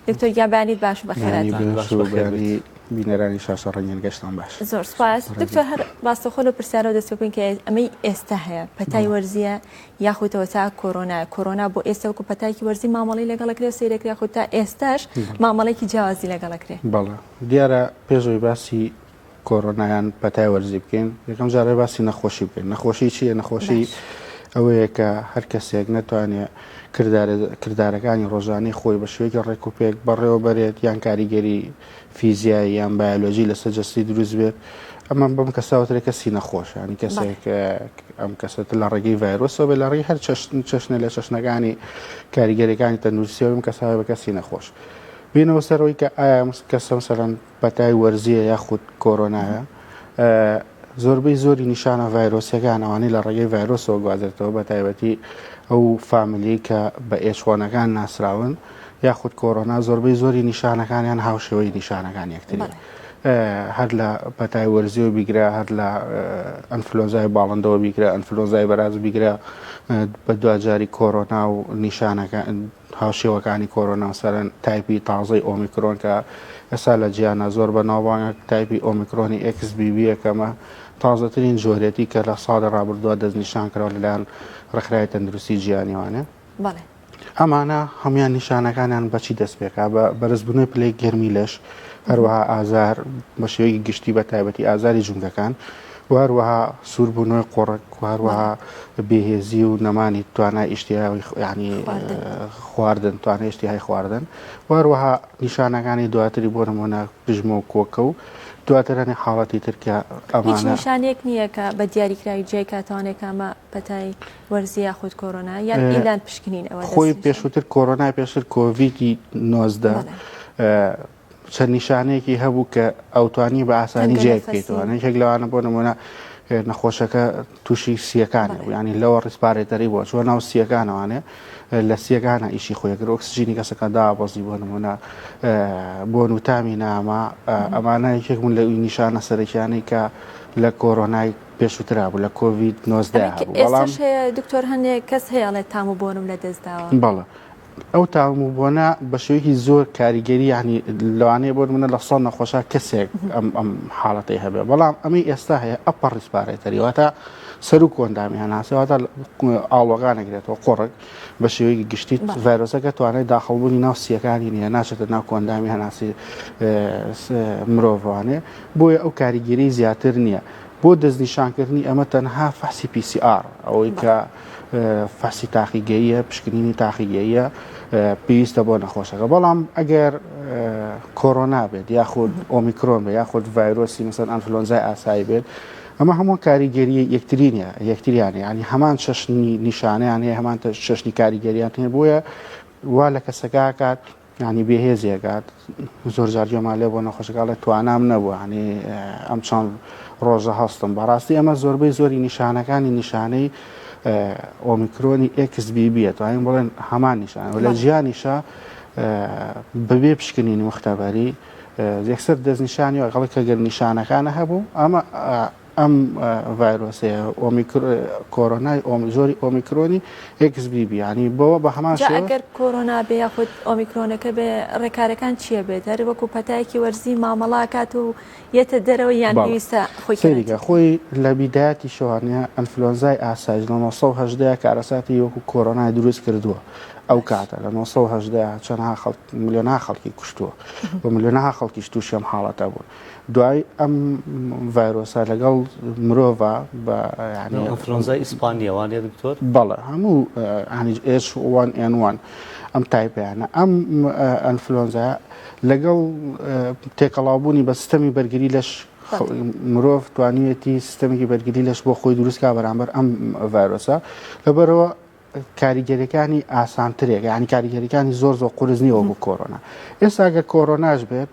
دکتۆر گیان بەیانیت باش و بەخێرایی بینەرانی شاشە ڕەنگێن گەشتان باش زۆر سپاس دکتۆر هەر ڕاستەخۆ لە پرسیارەوە دەست بکەین کە ئەمەی ئێستا هەیە پەتای وەرزیە یاخوتەوە تا کۆرۆنا کۆرۆنا بۆ ئێستا وکو پەتاکی وەرزی مامەڵی لەگەڵکرێ سیرەکرێ خو تا ئێستاش مامەڵێکی جیاوازی لەگەڵکرێ بەڵێ دیارە پێشەوەی باسی کۆرۆنا یان پەتای وەرزی بکەین یەکەم جارێ باسی نەخۆشی بکەین نەخۆشی چیە نەخۆشی ئەوەیە کە هەر کەسێک ناتوانێت کردارەکانی ڕۆژانەی خۆی بە شوێکی ڕێک و پێک بەڕێوە بەرێت یان کاریگەری فیزیایی یان بایۆلۆژی لەسەر جەستی دروست بێت ئەمە بەم کەساوترێک کەسی نەخۆشانی کەسێک ئەم کەسێت لە ڕێگەی ڤایرۆسەوە بە لە ڕێی هەر چەشتن چەشنە لە چەشنەکانی کاریگەرەکانی تەندروستیەوەم کەساوە بە کەسی نەخۆش بینەوە سەرەوەی کە ئایا کەسم سەرەن پەتای وەرزییە یاخود کۆرۆنایە؟ زۆربەی زۆری نیشانە ڤایرۆسییەکان ئەوانەی لە ڕێگەی ڤایرۆسەوە گوازرێتەوە بەتایبەتی ئەو فامیلیەی کە بە ئێچوەنەکان ناسراون یاخود کۆرۆنا زۆربەی زۆری نیشانەکانیان هاوشێوەی نیشانەکان یەکتری هەر لە پەتای وەرزیەوە بیگرە هەر لە ئەنفلۆزای باڵندەوە بیگرە ئەنفلۆزای بەراز بیگرە بە دواجاری کۆرۆنا و نیشانەکە هاوشێوەکانی کۆرۆنا مثلەن تایپی تازەی ئۆمیکرۆن کە ئێستا لە جیهاندا زۆر بەناوبانگە، تایپی ئۆمیکرۆنی ئێکس بی بی یەکەمە، تازەترین جۆرێتی کە لە ساڵی ڕابردووە دەستنیشان کراوە لەلایەن ڕێکخراوی تەندروستی جیهانی وانە. بەڵێ. ئەمانە هەموویان نیشانەکانیان بە چی دەست پێکا؟ بە بەرزبوونەوەی پلەی گەرمی لەش، هەروەها ئازار بە شێوەیەکی گشتی بە تایبەتی ئازاری جومگەکان، و هەروەها سوور بوونەوەی قۆڕک و هەروەها بێهێزی و نەمانی توانای ئیشتیاوی ینی خواردن توانای ئشتیهای خواردن و هەروەها نیشانەکانی دواتری بۆ نمونە پژمە و کۆکە و دواترانی حاڵەتی ترکە ئەمانە نیشانێک نییە کە بە دیاریکراوی جای کاتوانێک ئەمە پەتای وەرزی یاخود کۆرۆنا یان ئیلان پشکنین ئەوە خۆی پێشووتر کۆرۆنای پێشتر کۆڤیدی نۆزدە چەند نیشانەیەکی هەبوو کە ئەوتوانی بە ئاسانی جێ بکەیتەوە یەک لەوانە بۆ نمونە نەخۆشەکە تووشی سیەکانی ینی لەوە ڕیسپارێتەری بۆ چۆ ناو سیەکانەوانێ لە سیەکانە ئیشی خۆیگر ئۆکسسیجینی کەسەکە دابەزی بۆ نمونە بۆ نوتامی نامە ئەمانە یەکێک بوون لە نیشانە سەرەکیانەی کە لە کۆرۆنای پێشوترا بوو لە کۆڤید 19 دکتۆر هەنێ کەس هەیەڵێ تام و بۆنم لە دەستداوە بەڵە ئەو تاوم و بۆنە بە شێوەیەکی زۆر کاریگەری ینی لەوانەیە بۆ منە لە سۆن نەخۆشە کەسێک ئەم ئەم حاڵەتی هەبێ بەڵام ئەمەی ئێستا هەیە ئە پەڕیس پارێتەریواتە سەر و کۆندامی هەناسەواتە ئاڵۆگانەگرێتەوە قۆڕک بە شێوەیەکی گشتی ڤایرۆسەکە توانای داخڵبوونی ناو سیەکانی نیە ناچێتە ناو کۆندامی هەناسی مرۆڤوانێ بۆیە ئەو کاریگەری زیاتر نییە بۆ دەستنیشانکردنی ئەمە تەنها فەحسی پیسی ئار ئەوەی کە فحسی تاقیگەییە پشکنینی تاقیگەییە پێویستە بۆ نەخۆشەکە بەڵام ئەگەر کۆرۆنا بێت یاخود ئۆمیکرۆن بێ یاخود ڤایرۆسی مەسەن ئەنفلۆنزای ئاسایی بێت ئەمە هەموو کاریگەریە یەکترینە یەکتریانە ینی هەمان چەشنی نیشانیان هەیە هەمان چەشنی کاریگەریان هەیە بۆیە وا لە کەسەکە کات یانی بێ هێزی ئەکات زۆر جار گوێمان لێ بۆ نەخۆشەکە ئەڵێ توانام نەبوو یانی ئەم چەند ڕۆژە هەستم بەڕاستی ئەمە زۆربەی زۆری نیشانەکانی نیشانەی ئۆمیکرۆنی ئێکس بی بیە توانین بڵێن هەمان نیشان لە جیانیشە بەبێ پشکنینی مختبەری یەکسەر دەستنیشانی ئەگەڵی کە گەر نیشانەکانە هەبوو ئەمە ئەم ڤایرۆسەیە ئۆمیکرۆ کۆرۆنای ئۆمی جۆری ئۆمیکرۆنی ئێکس بی بی یانی بەوە بە هەمان جا شێوە ئەگەر کۆرۆنا بێ یاخود ئۆمیکرۆنەکە بێ ڕێکارەکان چییە بێت هەر وەکو پەتایەکی وەرزی مامەڵە ئەکات و یەتە دەرەوە یان باڵێ پێویستە خۆی سەیریکە کەرەنتین خۆی لە بیدایەتی شەوانە ئەنفلۆنزای ئاسایش لە 918 کارەساتی وەکو کۆرۆنای دروست کردووە ئەو باش کاتە لە 918 چەندها خەڵک ملیۆنها خەڵکی کوشتووە و ملیۆنها خەڵکیش تووشی ئەم حاڵەتە بوون دوای ئەم ڤایرۆسە لەگەڵ مرۆڤە بە ئەفرۆنزای ئیسپانیە وانێ دکتۆر بەڵێ هەموو ئەنیوان ئەنوان ئەم تایپیانە ئەم ئەنفلۆنزا لەگەڵ تێکەڵاوبوونی بە سیستەمی بەرگری لەش مرۆڤ توانیوێتی سیستەمێکی بەرگری لەش بۆ خۆی دروستکە بەرامبەر ئەم ڤایرۆسە لەبەرەوە کاریگەریەکانی ئاسانترێک یعنی کاریگەریەکانی زۆر زۆر قرس نیە وەکو کۆرۆنا ئێستا گە کۆرۆناش بێت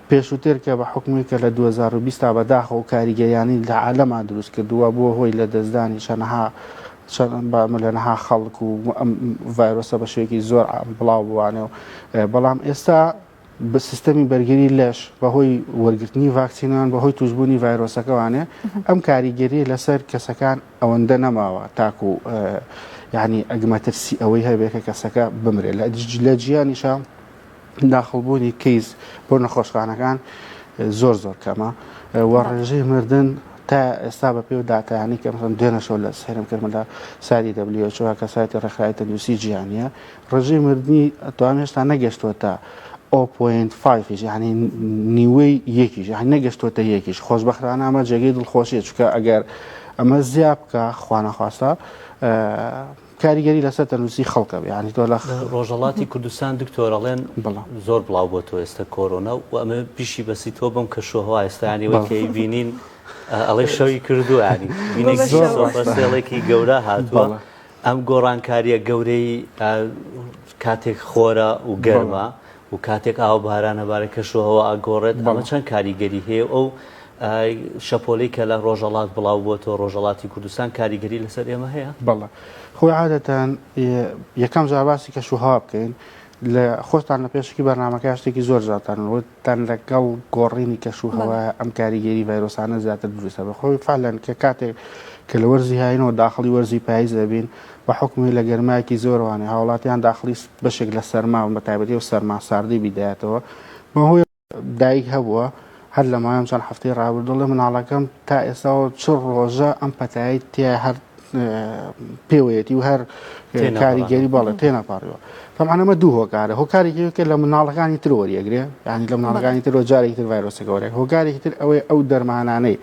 پێشوتر کە بە حکومی کە لە 2020 تا بەداخە و کاریگەیانی لە عالەما دروست کردووە بۆ هۆی لە دەستدانی شەنەها بامە لەنەها خەڵک و ئەم ڤایرۆسە بە شوێکی زۆر بڵاو بوانێ و بەڵام ئێستا سیستەمی بەرگری لەش بەهۆی وەرگرتنی ڤاکسینان بەهۆی توشببوونی ڤایرۆسەکەوانێ ئەم کاریگەری لەسەر کەسەکان ئەوەندە نەماوە تاکو یعنی ئەگمەترسی ئەوەی هەبێت کە کەسەکە بمرێت لە لە جیانیشە داخڵبوونی کەیس بۆ نەخۆشخانەکان زۆر زۆر کەمە وە ڕێژەی مردن تا ئێستا بە پێ و دااتیانی کە مەسم دوێنەشەوە لە سێرم کردمدا ساری دەبلیۆچوە کە سایتی ڕێکخراوی تەندروستی جیانە ڕێژەی مردنی ئەتوانم هێشتا نەگەشتووەتە ئەو پۆینت فایفیش یعنی نیوەی یەکیش یعنی نەگەشتووەتە یەکیش خۆشببختانە ئەمە جێگەی دڵخۆشیە چکە ئەگەر ئەمە زیاب بکە خوانەخواستە کاریگەری لەسەر تەنووسی خەڵکە یعنی تۆ لە ڕۆژەڵاتی کوردستان دکتۆرەڵێن بڵام زۆر بڵاو بۆ تۆ ئێستا کۆرۆنا و ئەمە پیشی بەسی تۆ بم کە شوهوا ئێستانی وەکەی بینین ئەڵێ شەوی کردووە ینی بینێکی گەورە هاتووە. ئەم گۆڕانکارییە گەورەی کاتێک خۆرە و گەرمە و کاتێک ئاو بارانە بارە کەش و هەوا ئاگۆڕێت ئەمە چەند کاریگەری هەیە ئەو شەپۆلی کە لە ڕۆژەڵات بڵاو بووە تۆ ڕۆژەڵاتی کوردستان کاریگەری لەسەر ئێمە هەیە بەڵە خۆی عادەتەن یەکەم جاواسی کەش و هەوا بکەین لە خۆتان لە پێشکی بەرنمەکە شتێکی زۆر جاتان وت تەن لەگەڵ گۆڕینی کەش و هەوا ئەم کاریگەری ڤایرۆسانە زیاتر دروستە بەخۆی فعلەن کە کاتێک کە لە وەرزی هاینەوە داخڵی وەرزی پاییز دەبین بە حکومی لە گەرمایەکی زۆروانێ هاوڵاتیان داخلی بەشێک لە سەرما بە تایبەتی و سەرما ساردی بیدایەتەوە بەهۆی دایک هەبووە هەر لە مایم چەند هەفتەی ڕابردوڵێ مناڵەکەم تا ئێساەوە چ ڕۆژە ئەم پەتایی تیا هەر پێوەیەتی و هەر کاریگەری باڵێ تێناپاڕیەوە تەمانەمە دوو هۆکارە هۆکارێکی کە لە مناڵەکانی تر وەریەگرێ ینی لە مناڵەکانی تر جارێکی تر ڤایرۆسە گەورە هۆکارێکی تر ئەوەی ئەو دەرمانانەی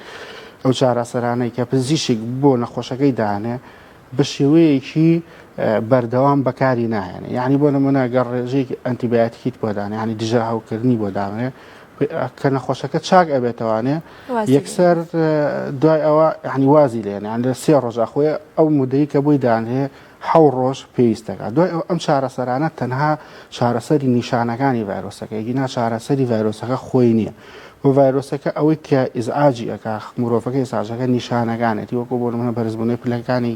ئەو چارەسەرانەی کە پزیشک بۆ نەخۆشەکەی دانێ بە شێوەیەکی بەردەوام بەکاری نایەنێ یعنی بۆ نمونە گەڕ ڕێژێکی ئەتیباتیت بۆدان ینی دژە هاوکردنی بۆ دامێ کە نەخۆشەکە چاک ئەبێتەوانێ یەکسەر دوای ئەوە ینی وازی لێن یان لە سێ ڕۆژە خۆی ئەو مدەی کە بووی دانێ حەو ڕۆژ پێویستەکە دوای ئەو ئەم چارەسەرانە تەنها چارەسەری نیشانەکانی ڤایرۆسەکە یگینا چارەسەری ڤایرۆسەکە خۆی نییە بۆ ڤایرۆسەکە ئەوەی کە ئیزعاجی ئەکا مرۆڤەکەی ساژەکە نیشانەکانێتی وەکو بۆ منە بەرزبوونەی پلەکانی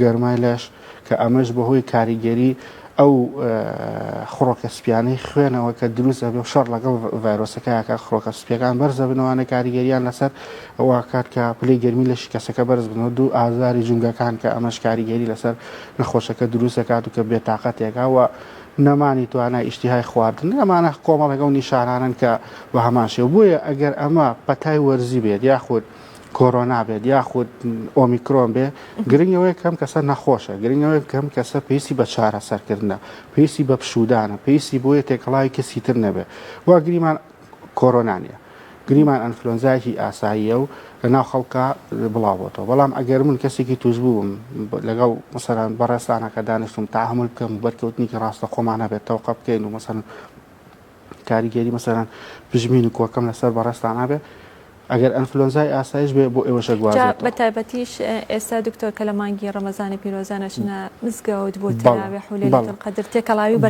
گەرمای لەش کە ئەمەش بەهۆی کاریگەری ئەو خڕۆکە سپیانەی خوێنەوە کە دروست ئەبێ و شەڕ لەگەڵ ڤایرۆسەکەیاکە خڕۆکە سپیەکان بەرزەبنەوانە کاریگەریان لەسەر واکات کە پلی گەرمی لە شکەسەکە بەرز بنەوە دوو ئازاری جومگەکان کە ئەمەش کاریگەری لەسەر نەخۆشەکە دروست دەکات و کە بێتاقەتێکە و نەمانی توانای ئیشتیهای خواردن ئەمانە کۆمەڵێک ئەو نیشانانن کە بە هەمان شێو بۆیە ئەگەر ئەمە پەتای وەرزی بێت یاخود کۆرۆنا بێت یاخود ئۆمیکرۆن بێ گرنگەوەی کەم کەسە نەخۆشە گرنگەوەی کەم کەسە پێسی بە چارە سەرکردە پێسی بە پشودانە پێسی بۆیە تێکەڵاوی کەسی تر نەبێ وا گریمان کۆرۆنا نیە گریمان ئەنفلۆنزایکی ئاساییە و لە ناو خەڵکە بڵاوبتەوە بەڵام ئەگەر من کەسێکی توش بووم لەگەڵ مەسەران بەڕێستانەکە دانیشتم تاهمل بکەم بەرکەوتنیکی ڕاستە خۆمان هەبێت تەوقە بکەین و مەسەن کاریگەری مەسەلەن پژمین و کۆکەم لەسەر بەڕێزتان نابێت ئەگەر ئەنفلۆنزای ئاسایش بێ بۆ ئێوە شەگوازێت بە تایبەتیش ئێستا دکتۆر کە لە مانگی ڕەمەزانی پیرۆزانەشنە مزگەوت بۆ تراوێ حولێتن قەدر تێکەڵاوی بە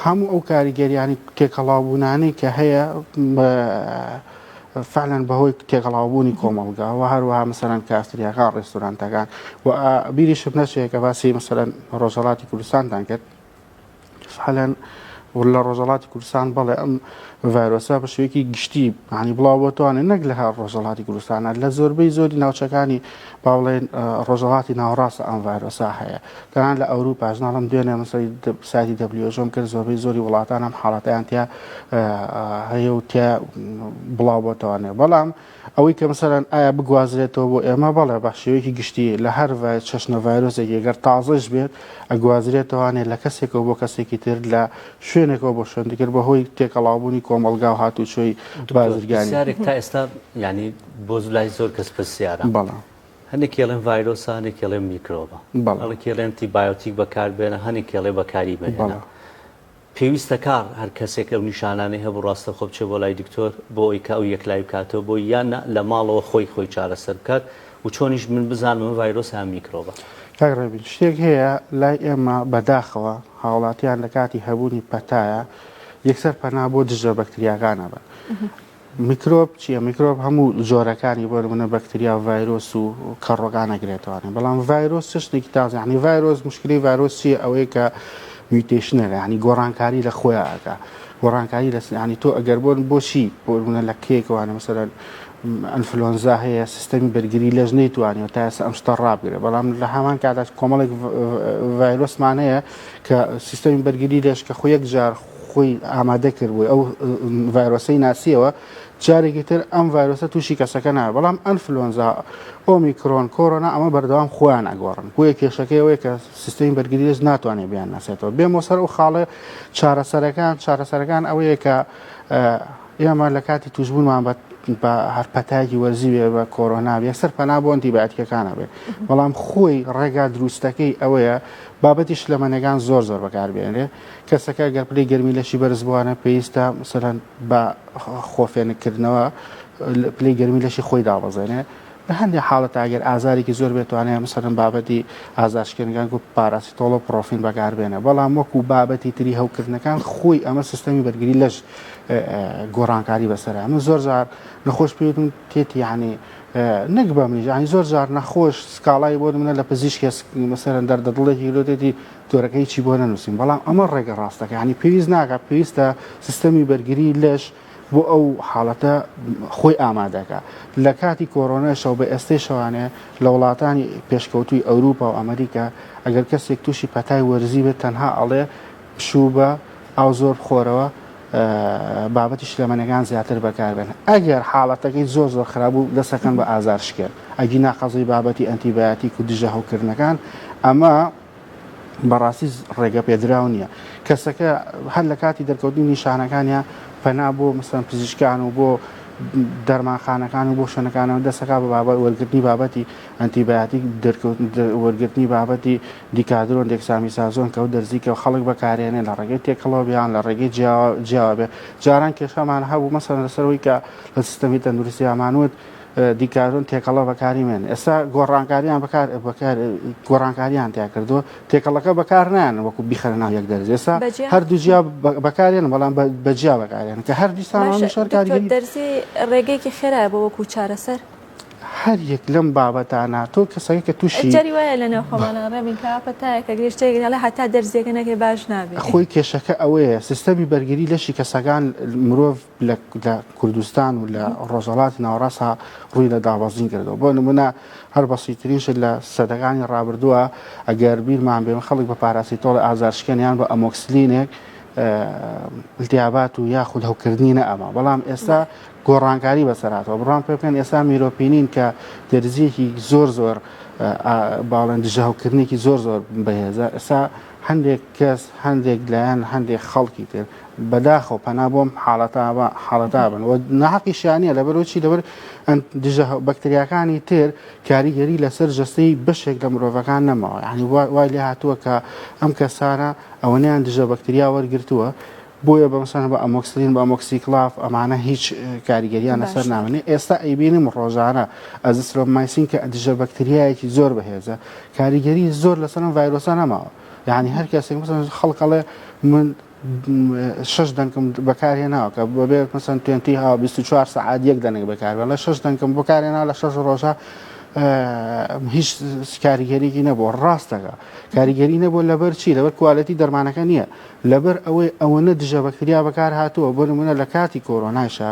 هەموو ئەو کاریگەریانی تێکەڵاوبوونانی کە هەیە فعلەن بەهۆی تێکەڵاوبوونی کۆمەڵگا و هەروەها مەسەرەن کاستریاکە ڕێستورانتەکان و بیریشم نەچێت کە باسی مەسەرەن ڕۆژەڵاتی کوردستاندان کرد سەحلەن ولە ڕۆژەڵاتی کوردستان بەڵێ ئەم ڤایرۆسە بە شێوەیەکی گشتی معنی بڵاو بۆتوانێت نەک لە هەر ڕۆژەڵاتی کوردستانە لە زۆربەی زۆری ناوچەکانی باڵێن ڕۆژەڵاتی ناوڕاستە ئەم ڤایرۆسا هەیە تەنان لە ئەوروپا ژناڵم دوێنێ مەسەی سایتی دەبلیۆژۆم کرد زۆربەی زۆری وڵاتان ئەم حاڵەتیان تیا هەیە و تیا بڵاو بۆتوانێت بەڵام ئەوەی کە مەسەلەن ئایا بگوازرێتەوە بۆ ئێمە، بەڵێ بە شێوەیەکی گشتی لە هەر چەشنە ڤایرۆسێکی گەر تازەش بێت ئەگوازرێتەوانێ لە کەسێکەوە بۆ کەسێکی تر لە شوێنێکەوە بۆ شوێن دیکر بە هۆی تێکەڵاوبوونی کۆمەڵگا و هاتوچۆی بازرگانی. دکتۆر پرسیارێک تا ئێستا یانی بۆ لای زۆر کەس پرسیارە. بەڵێ. هەنێکی ئەڵێن ڤایرۆسە هەنێکی ئەڵێن میکرۆبە. بەڵێ. هەڵێکی ئەڵێن ئەنتی بایۆتیک بەکار بێنە هەنێکی ئەڵێ بەکاری مەهێنە. بەڵێ. پێویستە کار هەر کەسێک ئەو نیشانانەی هەبوو ڕاستەوخۆ بچێت بۆ لای دکتۆر بۆ ئەوەی کە ئەو یەکلایی بکاتەوە بۆی یان نا لە ماڵەوە خۆی خۆی چارەسەر بکات و چۆنیش من بزانم ئەمە ڤایرۆسە یان میکرۆبە. کاک ڕەبیل شتێک هەیە لای ئێمە بەداخەوە هاوڵاتیان لەکاتی هەبوونی پەتایە یەکسەر پەنا بۆ دژە بەکتریاکان ئەبەن میکرۆب چیە؟ میکرۆب هەموو جۆرەکانی بۆ نمونە بەکتریا و ڤایرۆس و کەڕۆکان ئەگرێتەوە بەڵام ڤایرۆس چ شتێکی تازە یعنی ڤایرۆس مشکلی ڤایرۆس چیە ئەوەیە کە میوتێشنە یعنی گۆڕانکاری لە خۆیان ئەکا گۆڕانکاری لە یعنی تۆ ئەگەر بۆن بۆچی بۆ نمونە لە کێکەوانە مەسەرەن ئەنفلۆنزا هەیە سیستەمی بەرگری لەش نەیتوانێت تا ئێستا ئەم شتە ڕابگرێت بەڵام لە هەمان کادا کۆمەڵێک ڤایرۆسمان هەیە کە سیستەمی بەرگری لەش کە خۆ یەک جار خۆی ئامادە کرد بووی ئەو ڤایرۆسی ناسیەوە جارێکی تر ئەم ڤایرۆسە تووشی کەسەکە نایە بەڵام ئەنفلۆنزا ئۆمیکرۆن کۆرۆنا ئەمە بەردەوام خۆیان ئەگۆڕن بۆیە کێشەکەیەوەی کە سیستمی بەرگریش ناتوانێت بیان ناسێتەوە بێمە سەر و خاڵێ چارەسەرەکان چارەسەرەکان ئەوەیە کە ئێمە لە کاتی توشبوونمان بە بە هەرپەتاکی وەرزی وێ بە کۆرۆنا یەکسەر پەنا بۆ ئەنتیباتیکەکانە بێت بەڵام خۆی ڕێگا دروستەکەی ئەوەیە بابەتی شلەمەنەکان زۆر زۆر بەکاربێنێ کەسەکە گەر پلەی گەرمی لەشی بەرز بووانە پێویستە مثلەن بە خۆفێنکردنەوە پلەی گەرمی لەشی خۆی دابەزێنێ لە هەندێک حاڵەت ئاگەر ئازارێکی زۆر بێتوانێت مثلەن بابەتی ئازارشکێنگان و پاراسی تۆڵە پرۆفین بەکاربێنە بەڵام وەکو بابەتی تری هەوکردنەکان خۆی ئەمە سیستەمی بەرگری لەش گۆڕانکاری بەسرە من زۆر جار نەخۆش پێوتم تێتی یعنی نەک بە منیش ینی زۆر جار نەخۆش سکاڵای بۆ منە لە پزیشکێ مەسەرەن دەردە دڵێکی لۆدێتی جۆرەکە هیچی بۆ نەنووسین بەڵام ئەمە ڕێگە ڕاستەکە ینی پێویست ناکە پێویستە سیستەمی بەرگری لەش بۆ ئەو حاڵەتە خۆی ئامادەکە لە کاتی کۆرۆنەشەو بە ئێستەی شەوانێ لە وڵاتانی پێشکەوتوی ئەوروپا و ئەمریکا ئەگەر کەسێک تووشی پەتای وەرزی بێت تەنها ئەڵێ پشوو بە ئاو زۆر بخۆرەوە بابەتی شلەمەنەکان زیاتر بەکاربێن ئەگەر حاڵەتەکەی زۆر زۆر خراببوو دەسەکەن بە ئازار شکێن ئەگی ناقەزی بابەتی ئەنتیبایەتی و دژە هەوکردنەکان ئەمە بەڕاستی ڕێگەپێدراو نییە کەسەکە هەر لە کاتی دەرکەوتنی نیشانەکانیان پەنا بۆ مەسەن پزیشکان و بۆ دەرمانخانەکان و بۆ شوێنەکانەوە دەسەکە بە بابەت وەرگرتنی بابەتی ئەنتیباتی وەرگرتنی بابەتی دیکادرۆن دێکسامی سازۆن کەوت دەرزیکە و خەڵک بەکارێنێ لە ڕێگەی تێکەڵەوە بیان لە ڕێگەی جیاوە بێ جاران کێشەمان هەبوو مەسەن لەسەرەوەی کە لە سیستەمی تەندروستیامانوت دیکارۆن تێکەڵە بەکاریمێن ئێستا گۆڕانکاریان بەکار گۆڕانکاریان تیا کردو تێکەڵەکە بەکار نان وەکو بیخەرە ناو یەک دەرز ئێستا هەردوو جیا بەکارێن بەڵام بەجیا بەکارێن کە هەر دیسان شەرکاری دەرزی ڕێگەیەکی خێرای بۆ وەکو چارەسەر هەر یەک لەم بابەتانە تۆ کەسەکە کە تووشی جاری وایە لە ناوخۆمانە ڕێبین کاپە تایەکە گرێشتێکگەڵە هەتا دەرزیەکە نەکەی باش نابێت خۆی کێشەکە ئەوەیە سیستەمی بەرگری لەشی کەسەکان مرۆڤ لە لە کوردستان و لە ڕۆژهەڵاتی ناوەڕاستە ڕووی لە دابەزین کردەوە بۆ نمونە هەر بەسیترینش لە سەدەکانی ڕابردووە ئەگەر بیرمان بێن خەڵک بە پاراسی تۆڵ ئازارشکێنیان بە ئەمۆکسلینێک التیابات و یاخود هەوکردنی نە ئەما بەڵام ئێستا گۆڕانکاری بەسەراتەوە بڕان پێ بکەن ئێستا میرۆپینین کە دەرزیەکی زۆر زۆر باڵێن دژەهوکردنێکی زۆر زۆر بەهێزە ئێستا هەندێک کەس، هەندێک لایەن، هەندێک خەڵکی تر بەداخەوە پەنا بۆم حاڵەتا حاڵەتا بن و ناحەقیشیان نییە لەبەرەوە چی لەبەر دژە بەکتریاکانی تر کاریگەری لەسەر جەستەی بەشێک لە مرۆڤەکان نەماوە یعنی وای لێ هاتووە کە ئەم کەسانە ئەوەنیان دژە بەکتریا وەرگرتووە بۆیە بەمسان بە ئەمۆکسلین بە ئەمۆکسیکلاف ئەمانە هیچ کاریگەریان لەسەر نامێنێ ئێستا ئەیبینم ڕۆژانە ئەزسرۆمایسین کە دژە بەکتریایەکی زۆر بەهێزە کاریگەری زۆر لەسەرم ڤایرۆسە نەماوە یعنی هەر کەسێک مثلا خەڵک ئەڵێ من شش دەنکم بەکارێ ناوکە بەبێت مەسەن توێنتی ها 24 سعات یەک دەنگ بەکار بە لە شش دەنکم بەکارێ نا لە شش ڕۆژە هیچ کاریگەریی نەبوو ڕاستەکە کاریگەری نەبوو لەبەر چی لەبەر کوالەتی دەرمانەکە نییە لەبەر ئەوەی ئەوەنە دژە بەکتریا بەکار هاتووە بۆ منە لە کاتی کۆرۆنایشە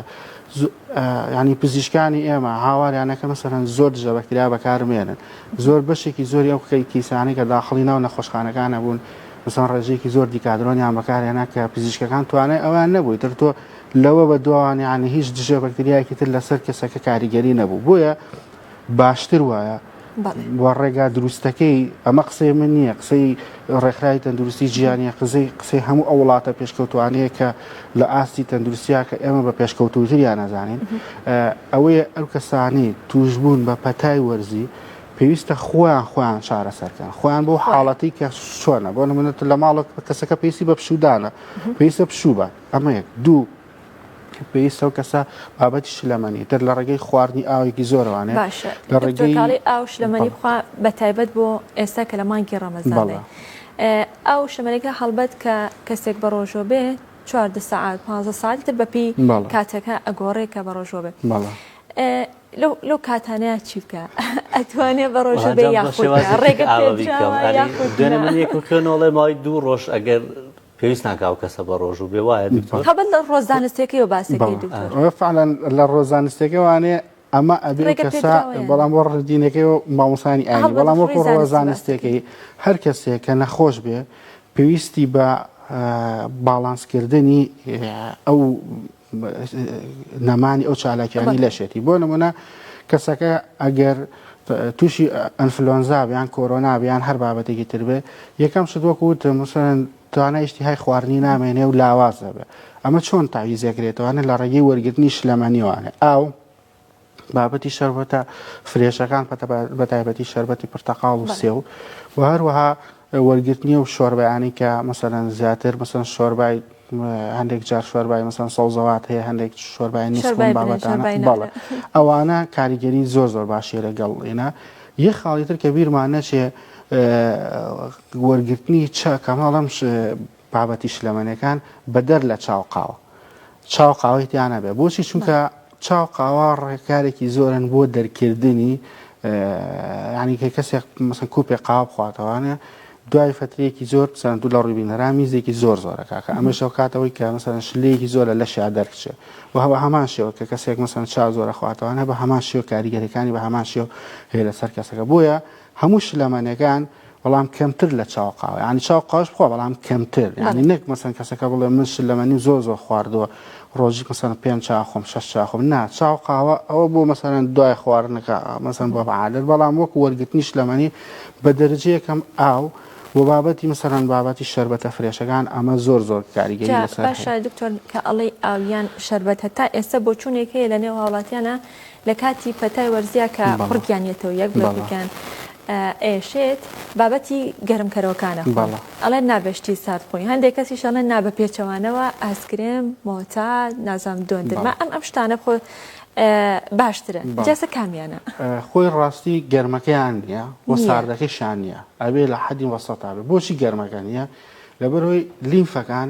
ینی پزیشکانی ئێمە هاواریانەکە مەسەرەن زۆر دژە بەکتریا بەکارمێنن زۆر بەشێکی زۆری ئەو کیسانەی کە داخڵی ناو نەخۆشخانەکانە بوون مەسەڵەن ڕێژەیەکی زۆر دیکادرۆنیان بەکارهێنا کە پزیشکەکان توانای ئەویان نەبوو ئیتر تۆ لەوە بەدواوە یانی هیچ دژە بەکتریایەکی تر لەسەر کەسەکە کاریگەری نەبوو بۆیە باشتر وایە بۆ ڕێگا دروستەکەی ئەمە قسەی من نییە قسەی ڕێکخراوی تەندروستی جیانە قزەی قسەی هەموو ئەو وڵاتە پێشکەوتوانەیە کە لە ئاستی تەندروستیا کە ئێمە بە پێشکەوتوتریان نەزانین ئەوەیە ئەو کەسانی توشبوون بە پەتای وەرزی پێویستە خۆیان خۆیان چارەسەرکەن خۆیان بۆ حاڵەتی کە شۆنە بۆ منێت لە ماڵک کەسەکە پێویستی بە پشودانە پێویستە پشوبە ئەمە یەک دوو پێویستە و کەسە بابەتی شلەمەنی تر لە ڕێگەی خواردنی ئاوێکی زۆرەوانێ لە ڕێگەی ئاو شلەمەنی بە تایبەت بۆ ئێستا کە لە مانگی ڕەمەزانێ ئاو شەمەرەکە هەڵبەت کە کەسێک بەڕۆژوە بێ چواردە سەعات پازدە سەعاتی تر بە پێی کاتەکە ئەگۆڕێ کە بەڕۆژوە بێ لەو کاتانەیە چی بکە ئەتوانێ بەڕۆژە بێ یاخۆێنە من یەک خوێنەوەڵێ ماوەی دوو ڕۆژ ئەگەر پێویست ناکاو کەسە بە ڕۆژ و بێ وایە خەبەت لە ڕۆزانستێکەکەی و باسەکەی فعلەن لە ڕۆزانستێکەوانێ ئەمە ئەبێ و کەسا بەڵام بۆ ڕدینەکەی و مامۆسانی ئاینی بەڵام وەکو ڕۆڵە زانستێکی هەر کەسێک کە نەخۆش بێ پێویستی بە باڵانسکردنی ئەو نەمانی ئەو چالاکیانی لەشێتی بۆ نمونە کەسەکە ئەگەر تووشی ئەنفلۆنزا بیان کۆرۆنا بیان هەر بابەتێکی تر بێ یەکەم شت وەکو وتم مسەن توانا ئیشتیهای خواردنی نامێنێ و لاواز دەبێ ئەمە چۆن تاویزێکرێتوانێت لە ڕێگەی وەرگرتنی شلەمەنیوانێ ئاو بابەتی شەربەتە فرێشەکان پەتە بە تایبەتی شەربەتی پرتەقاڵ و سێو و هەروەها وەرگرتنی و شۆربیانی کە مەسەەن زیاتر مەسەن شۆربای هەندێک جار شۆربای مەسەن سەوزەوات هەیە هەندێک شۆربای نیسبەتانە بەڵێ ئەوانە کاریگەری زۆر زۆر باشی لەگەڵ ئێنا یەک خاڵی تر کە بیرمان نەچێ وەرگرتنی چا کەماڵ ئەم بابەتی شلەمەنەکان بەدەر لە چاو قاوە چاو قاوەی تیانە بێ بۆچی چونکە چاو قاوا ڕێکارێکی زۆرن بۆ دەرکردنی ینی کە کەسێک مەسن کوپێ قاو بخواتەوانە دوای فەترەیەکی زۆر مەسەلەن دوو لە ڕووی بینەران میزێکی زۆر زۆرە کاکە ئەمەش هۆکاتە هۆی کە مەسەلەن شلەیەکی زۆر لە لەشیا دەرکچێ و هەوە هەمان شێوە کە کەسێک مەسەلەن چا زۆر ئەخواتەوانە بە هەمان شێوە کاریگەریەکانی بە هەمان شێوە هەیە لەسەر کەسەکە بۆیە هەموو شلەمەنەکان بەڵام کەمتر لە چاو قاوە ینی چاو قاش بخوا بەڵام کەمتر ینی نەک مەسەن کەسەکە بڵێ من شلەمەنی زۆر زۆر خواردووە ڕۆژیک مەسەن پێنج چاخۆم شەش چاخۆم نا چاو قاوە ئەوە بۆ مەسەن دوای خواردنەکە مەسەن بۆ عادەت بەڵام وەکو وەرگتنی شلەمەنی بە دەرجەیەکەم ئاو و بابەتی مەسەرەن بابەتی شربەتە فرێشەکان ئەمە زۆر زۆر کاریگەری لەسەر باشە دکتۆر کە ئەڵێ ئاویان شربەتە تا ئێستا بۆچوونێک هەیە لە نێو هاوڵاتیانە لە کاتی پەتای وەرزیا کە بەڵا قوڕگیان یەتەوە یەک بڵێ بەڵا. قوڕگیان ئەیەشێت بابەتی گەرمکەرەوەکان ئەخۆن بەڵا. ئەڵێن نا بە شتی سارد خۆی هەندێک کەسیش ئەڵێن نا بە پێچەوانەوە ئایسکرێم مۆتا نازانم دۆندرما بەڵا. ئەم ئەم شتانە بخۆ باشترن بەڵا. جاسە کامیانە. خۆی ڕاستی گەرمەکەیان نیە و نیە. ساردەکەشیان نیە ئەبێ لە حەدی وەسەتا بێ بۆچی گەرمەکە نیە لەبەر هۆی لیمفەکان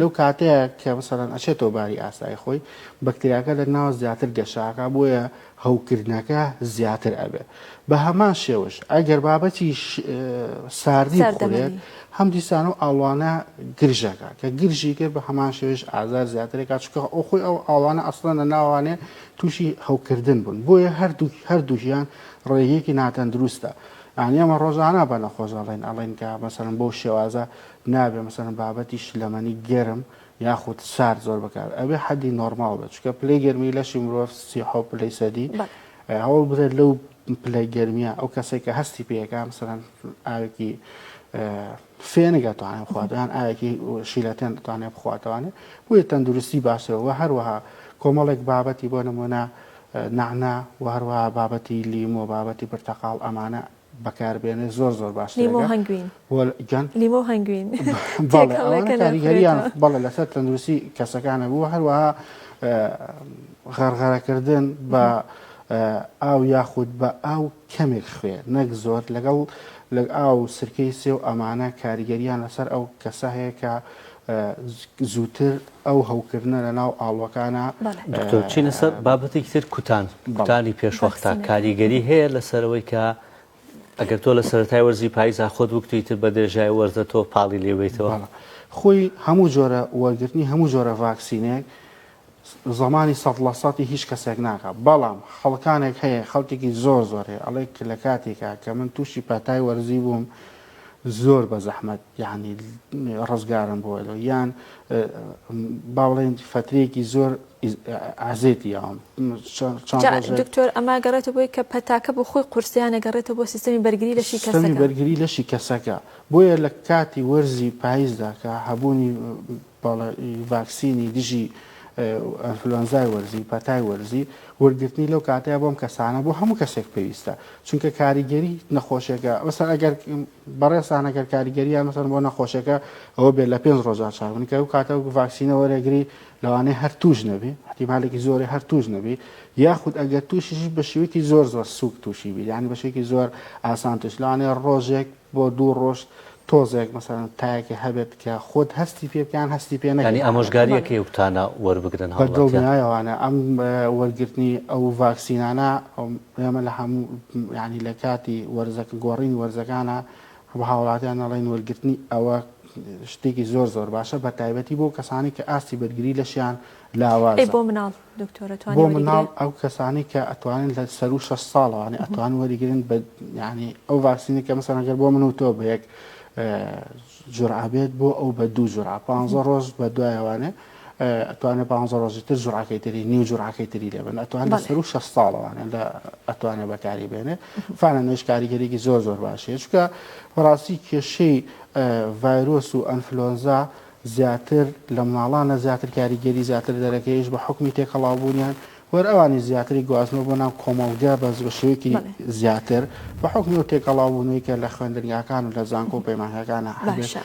لەو کاتەیە کە مەسەلەن ئەچێتەوە باری ئاسایی خۆی بەکتریاکە دەرناوە زیاتر گەشە ئەکا بۆیە هەوکردنەکە زیاتر ئەبێ بە هەمان شێوەش ئەگەر بابەتی ساردی بخورێت هەم دیسان و ئاڵوانە گرژەکە کە گرژی کرد بە هەمان شێوش ئازار زیاترێکا چکە ئەو خۆی ئەو ئاڵانە ئەسڵەن لە ناوانێ تووشی هەوکردن بوون بۆیە هەردوو هەردووژیان ڕێیەکی ناتەندروستە ئەنی ئەمە ڕۆژانە بە نەخۆش ئەڵێن ئەڵێن کە مەسەرم بۆ شێوازە نابێ مەسەلەن بابەتی شلەمەنی گەرم یاخود سارد زۆر بەکار ئەبێ حەدی نۆرماڵ بێت چونکە پلەی گەرمی لەشی مرۆڤ سی و حەوت پلەی سەدی هەوڵ بدە لەو پلەی گەرمیە ئەو کەسێک کە هەستی پێەکە مەسەلەن ئاوێکی فێنگە توانێ بخواتیان ئاەکی شیلەتێن دەتوانێت بخواتوانێت بۆیە تەندروستی باشەوە هەروەها کۆمەڵێک بابەتی بۆ نمونە نعنا و هەروەها بابەتی لیمۆ بابەتی پرتەقاڵ ئەمانە بەکار بێنێ زۆر زۆر باشترە لیمۆ و هەنگوین گیان لیمۆ و هەنگوین بەڵێ ئەوانە تێکەڵەکە کاریگەریان نەخورێتەوە بەڵێ لەسەر تەندروستی کەسەکان هەبوو هەروەها اه، غەرغەرەکردن بە اه، ئاو یاخود بە ئاو کەمێک خوێ نەک زۆر لەگەڵ لەگ ئاو و سرکەی سێو ئەمانە کاریگەریان لەسەر ئەو کەسە هەیە کە اه، زووتر ئەو هەوکردنە لە ناو ئاڵوەکانا. بەڵێ. دکتۆر بچینە سەر بابەتێکی تر کوتان کوتانی پێشوەختە کاریگەری هەیە لەسەر ئەوەی کە ئەگەر تۆ لە سەرەتای وەرزی پایزا خۆت بکوتی ئیتر بە درێژای وەرزە تۆ پاڵی لێ بەیتەوە؟ بەڵێ خۆی هەموو جۆرە وەرگرتنی هەموو جۆرە ڤاکسینێک زەمانی سەد لە سەدی هیچ کەسێک ناکا بەڵام خەڵکانێک هەیە خەڵکێکی زۆر زۆر هەیە ئەڵێ کە لە کاتێکا کە من تووشی پاتای وەرزی بووم زۆر بەزەحمەت یعنی ڕزگارم بۆ لۆ یان باڵێن فترەیەکی زۆر ئازێتی یاوم دکتۆر ئەما گەڕێتە بۆی کە پەتاکە بۆ خۆی قورسیانە گەڕێتە بۆ سیستمی بەرگری لەشی کەسی بەرگری لەشی کەسەکە بۆیە لە کاتی وەرزی پاییزداکە هەبوونی بەڵێ ڤاکسینی دژی ئەنفلۆنزای وەرزی، پەتای وەرزی، وەرگرتنی لەو کاتەیا بۆم کەسانە بۆ هەموو کەسێک پێویستە چونکە کاریگەری نەخۆشێکە مەسەن ئەگەر بەڕێزان ئەگەر کاریگەریان مەسەن بۆ نەخۆشێکە ئەوە بێت لە پێنج ڕۆژا چاک بن کە ئەو کاتە ڤاکسینە وەرەگری لەوانەیە هەر توش نەبی احتیمالێکی زۆری هەر توش نەبی یاخود ئەگەر توشیش بە شێوەیەکی زۆر زۆر سوک توشی بی یعنی بە شێوەیەکی زۆر ئاسان توش لەوانەیە ڕۆژێک بۆ دوو ڕۆژ تۆزێک مەسەلەن تایەکێ هەبێت کە خۆت هەستی پێ بکەی یان هەستی پێ نەکەی یانی ئامۆژگاریەکەی ئەو کتانە وەربگرن هاوڵاتیان؟ بە دڵنیایەوانە ئەم وەرگرتنی ئەو ڤاکسینانە ئێمە لە هەموو یانی لە کاتی وەرزەکە گۆڕینی وەرزەکانە بە هاوڵاتیان نەڵێن وەرگرتنی ئەوە شتێکی زۆر زۆر باشە بە تایبەتی بۆ کەسانی کە ئاستی بەرگری لەشیان لاوازە. ئەی بۆ مناڵ دکتۆرە توانی وەریگرێ؟ بۆ مناڵ ئەو کەسانەی کە ئەتوانن لە سەروو شەش ساڵەوانێ ئەتوان وەریگرن بە یانی ئەو ڤاکسینە کە مەسەلەن گەر بۆ من و تۆ بە یەک جورعە بێت بۆ ئەو بە دوو جورعە پانزە ڕۆژ بە دوایەوانێ ئەتوانێت پانزە ڕۆژی تر جورعەکەی تری نیو جورعەکەی تری لێبن ئەتوان لە سەروو شەش ساڵەوانێ لە ئەتوانێ بەکاری بێنێ فانە نوێش کاریگەرێکی زۆر زۆر باشەیە چکە بەڕاستی کێشەی ڤایرۆس و ئەنفلۆنزا زیاتر لە ماڵانە زیاتر کاریگەری زیاتر دەرەکەیش بە حکومی تێکەڵاو بوونیان وەر ئەوانی زیاتری گواستنەوە بۆ ناو کۆمەڵگە بەس بە شێوەیەکی زیاتر بە حکومی و تێکەڵاو بوونەوەی کە لە خوێندنگاکان و لە زانکۆ و پەیمانگەکانە هەبێت.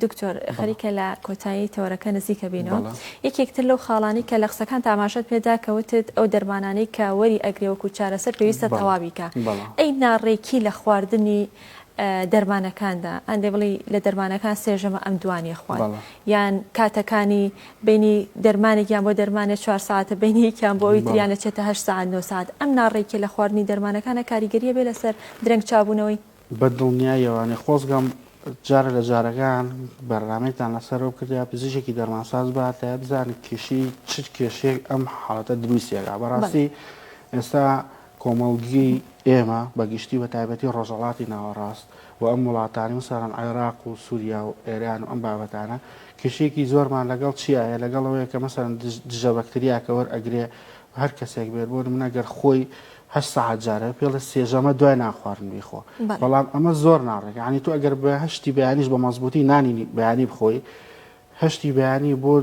دکتۆر خەریکە لە کۆتایی تەوەرەکە نزیکە بینەوە یەکێکتر لەو خاڵانی کە لە قسەکان تاماشەت پێدا کەوتت ئەو دەرمانانەی کە وەری ئەگرێ وەکو چارەسەر پێویستە تەواویکە ئەی ناڕێکی لە خواردنی دەرمانەکاندا ئەن دەی بڵی لە دەرمانەکان سێژەمە ئەم دوانیە خوارد یان کاتەکانی بینی دەرمانێکیان بۆ دەرمانێ چوار ساعتە بینیکیان بۆ ئەوی تریان لە چێتە هە ساعت نۆ ساعت ئەم ناڕێکی لە خواردنی دەرمانەکانە کاریگەریە بێ لەسەر درەنگ چابوونەوەی بە دڵنیایەوانێ خۆزگەم جارە لە جارەکان بەرنمێکتان لەسەرەوە کردیا پزیشێکی دەرمانساز باتە بزانێت کێشی چ کێشێک ئەم حاڵەتە دروستێکا بەڕاستی ئێستا کۆمەڵگەی ئێمە بە گشتی بە تایبەتی ڕۆژهەڵاتی ناوەڕاست و ئەم وڵاتانەی مەسەڵەن عێراق و سوریا و ئێران و ئەم بابەتانە کێشەیەکی زۆرمان لەگەڵ چیا هەیە لەگەڵ ئەوەیە کە مەسەڵەن دژە بەکتریاکە وەرئەگرێ هەر کەسێک بێت بۆ نمونە گەر خۆی هەشت سەعات جارە پێڵێ سێژەمە دوای نانخواردن بیخۆ بەڵام ئەمە زۆر ناڕێک یعنی تۆ ئەگەر بە هەشتی بەیانیش بە مەزبوطی نانی بەیانی بخۆی هەشتی بەیانی بۆ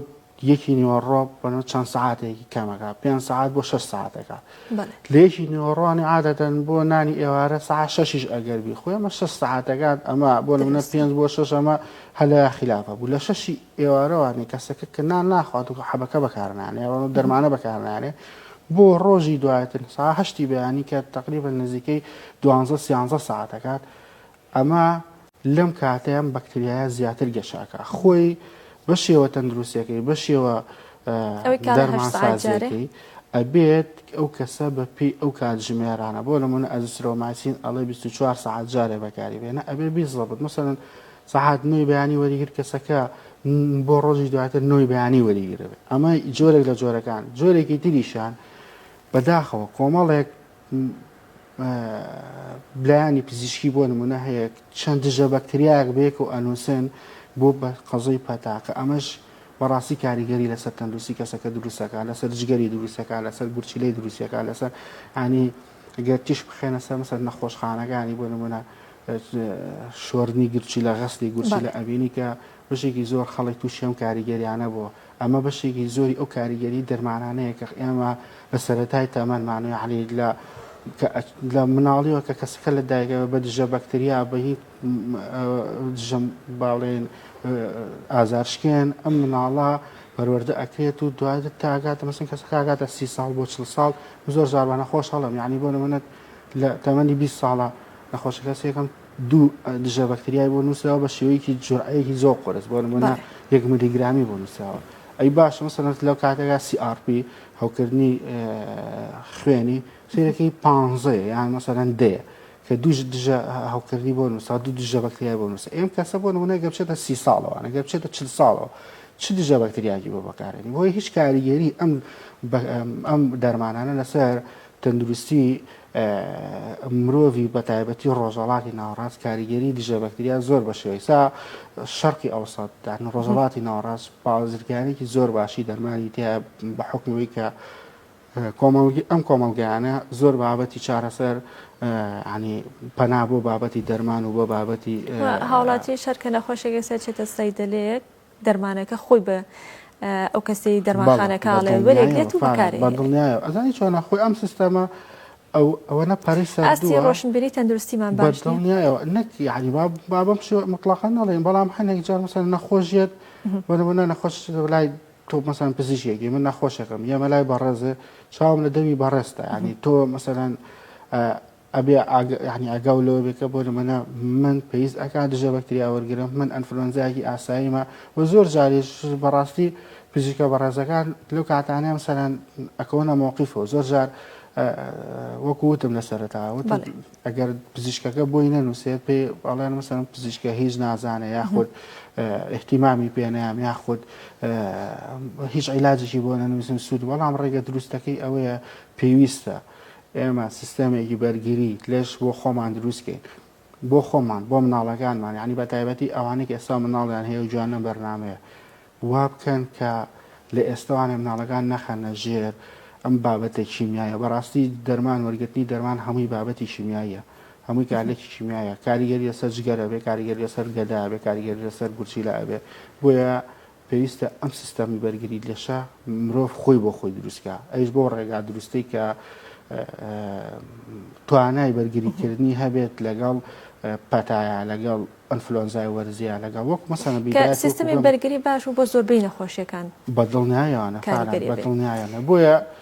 یەکی نیوەڕۆ بەنەو چەند سەعاتێکی کەمەکە پێنج سەعات بۆ شەش سەعاتەکە بەڵێ لە یەکی نیوەڕۆانی عادەتەن بۆ نانی ئێوارە سەعات شەشیش ئەگەر بی خۆی ئەمە شەش سەعاتەکات ئەمە بۆ نمونە دروستە پێنج بۆ شەش ئەمە هەلە خلافە بوو لە شەشی ئێوارەوانی کەسەکە کە نان ناخوات و حەبەکە بەکارنانێ ئەوە دەرمانە بەکارنانێ بۆ ڕۆژی دواتر سا هەشتی بەیانی کە تقریبا نزیکەی دوانزە سیانزە ساعتەکات ئەمە لەم کاتەی ئەم بەکتریایە زیاتر گەشە ئەکا خۆی بەشێوە تەندروستەکەی بەشێوە دەرمانسازیەکەی ئەبێت ئەو کەسە بە پێی ئەو کات ژمێرانە بۆ لەمونە ئەزسرۆماسین ئەڵێ 24 سعات جارێ بەکاری بێنە ئەبێ بیزڵبت مەسەن سەعات نوێی بەیانی وەریگر کەسەکە بۆ ڕۆژی دواتر نوێی بەیانی وەریگرێت ئەمە جۆرێک لە جۆرەکان جۆرێکی تریشان بەداخەوە کۆمەڵێک لایەنی پزیشکی بۆ نمونە هەیە چەند دژە بەکتریایەک بەیەکە و ئەنووسن بۆ بە قەزەی پەتاکە ئەمەش بەڕاستی کاریگەری لەسەر تەندروستی کەسەکە دروستەکە لەسەر جگەری دروستەکە لەسەر گورچیلەی دروستەکە لەسەر ئانی گەر تیش بخێنە سەر مەسەر نەخۆشخانەکانی بۆ نمونە شۆرنی گرچی لە غەستی گورچی لە ئەبینی کە بژێکی زۆر خەڵک تووشێم کاریگەریانە بۆ ئەمە بەشێکی زۆری ئەو کاریگەری دەرمانانەیە کە ئێمە لە سەرەتای تەمەنمان یانی لە لە مناڵیەوە کە کەسەکە لە دایکەوە بە دژە بەکتریا بە هیچ دژە باڵێن ئازارشکێن ئەم مناڵە پەروەەردە ئەکرێت و دواتر تاگاتە مەسن کەسەکەگاتە سی ساڵ بۆ چل ساڵ زۆر زاربانە خۆش هەڵم یعنی بۆ نمونەت لە تەمەنی 20 ساڵە نەخۆشەکە سێکەم دوو دژە بەکتریای بۆ نووسراوە بە شێوەیەکی جورعەیەکی زۆر قۆرس بۆ نمونە یەک ملیگرامی بۆ نووسراوە ئەی باشە مەسەرەت لەو کاتێکا CRP هەوکردنی خوێنی سیرەکەی پانزەیە یان مەسەرەن دەیە کە دوو دژە هەوکردنی بۆ نووسا دوو دژە بەکتریای بۆ نووسە ئێم کەسە بۆ نمونە گەبچێتە سی ساڵەوە نەگە بچێتە چل ساڵەوە چ دژە بەکتریاکی بۆ بەکارێنی بۆی هیچ کاریگەری ئەم ئەم دەرمانانە لەسەر تەندروستی مرۆڤی بە تایبەتی ڕۆژەڵاتی ناوەڕاست کاریگەری دژە بەکتریا زۆر بە شێوەیسا شەرقی ئەوسەد دان ڕۆژەڵاتی ناوەڕاست پاوزرگانێکی زۆر باشی دەرمانی تیا بە حکمەوەی کە کۆمەڵگی ئەم کۆمەلگایانە زۆر بابەتی چارەسەر ینی پەنا بۆ بابەتی دەرمان و بۆ بابەتی هاوڵاتی شەرکە نەخۆشێکی سەرچێتە سەیدەلەیەک دەرمانەکە خۆی بە ئەو کەسەی دەرمانخانەکە ئەڵێ وەرێگرێت و بەکارێ بەدڵنیایە ئەزانی چۆنە خۆی ئەم سیستەمە ئەو ئەوەنە پارەی سەرستی ڕۆشنبیری تەندروستیمان باشنیایەوە نەک یعنی بابم شێ مطلقان نەڵێن بەڵام هەنێک جار مەسەر نەخۆشیێت وەنەوەنا نەخۆش لای تۆ مەسان پزیشێکی من نەخۆشەکەم یەمە لای بەڕێزێ چاوم لە دەوی بەڕێستا ینی تۆ مەسەرەن ئەبێ ئاگە یانی ئاگاو لەوە بێ کە بۆ نمونە من پێویست ئەکا دژە بەکتریا وەرگرم من ئەنفلۆنزایەکی ئاساییمە وە زۆر جاریش بەڕاستی پزیشکە بەڕێزەکان لەو کاتانەیە مەسەلەن ئەکەونە مۆقیفەوە زۆر جار وەکو وتم لە سەرەتا وتم ئەگەر پزیشکەکە بۆی نەنووسێت پێ ئەڵێن مەسەن پزیشکە هیچ نازانە یاخود احتیمامی پێنەیان یاخود هیچ عیلاجێکی بۆ نەنووسن سوود بەڵام ڕێگە دروستەکەی ئەوەیە پێویستە. ئێمە سیستەمێکی بەرگری لەش بۆ خۆمان دروست کەین بۆ خۆمان بۆ مناڵەکانمان یانی بە تایبەتی ئەوانەی کە ئێستا مناڵیان هەیە و جوان نەم بەرنامەیە وا بکەن کە لە ئێستەوانێ مناڵەکان نەخەنە ژێر ئەم بابەتە کیمیایە بەڕاستی دەرمان وەرگرتنی دەرمان هەمووی بابەتی کیمیاییە هەمووی کارلێکی کیمیایە کاریگەری لەسەر جگەرە بێ کاریگەری لەسەر گەدا بێ کاریگەری لەسەر گورچیلە ئەبێ بۆیە پێویستە ئەم سیستەمی بەرگری لەشە مرۆڤ خۆی بۆ خۆی دروستکە ئەیش بۆ ڕێگا دروستەی کە توانای بەرگریکردنی هەبێت لەگەڵ پەتایە لەگەڵ ئەنفلۆنزای وەرزیە لەگەڵ وەک مەسەنە سیستمی بەرگری باش و بۆ زۆربەی نەخۆشیەکان بەدڵنیایانە بەدڵنیایانە بۆیە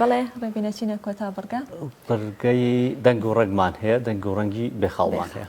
بەڵێ ڕێبین ئەچینە کۆتا بڕگە. بڕگەی دەنگ و ڕەگمان هەیە، دەنگ و ڕەنگی بێخاڵمان هەیە.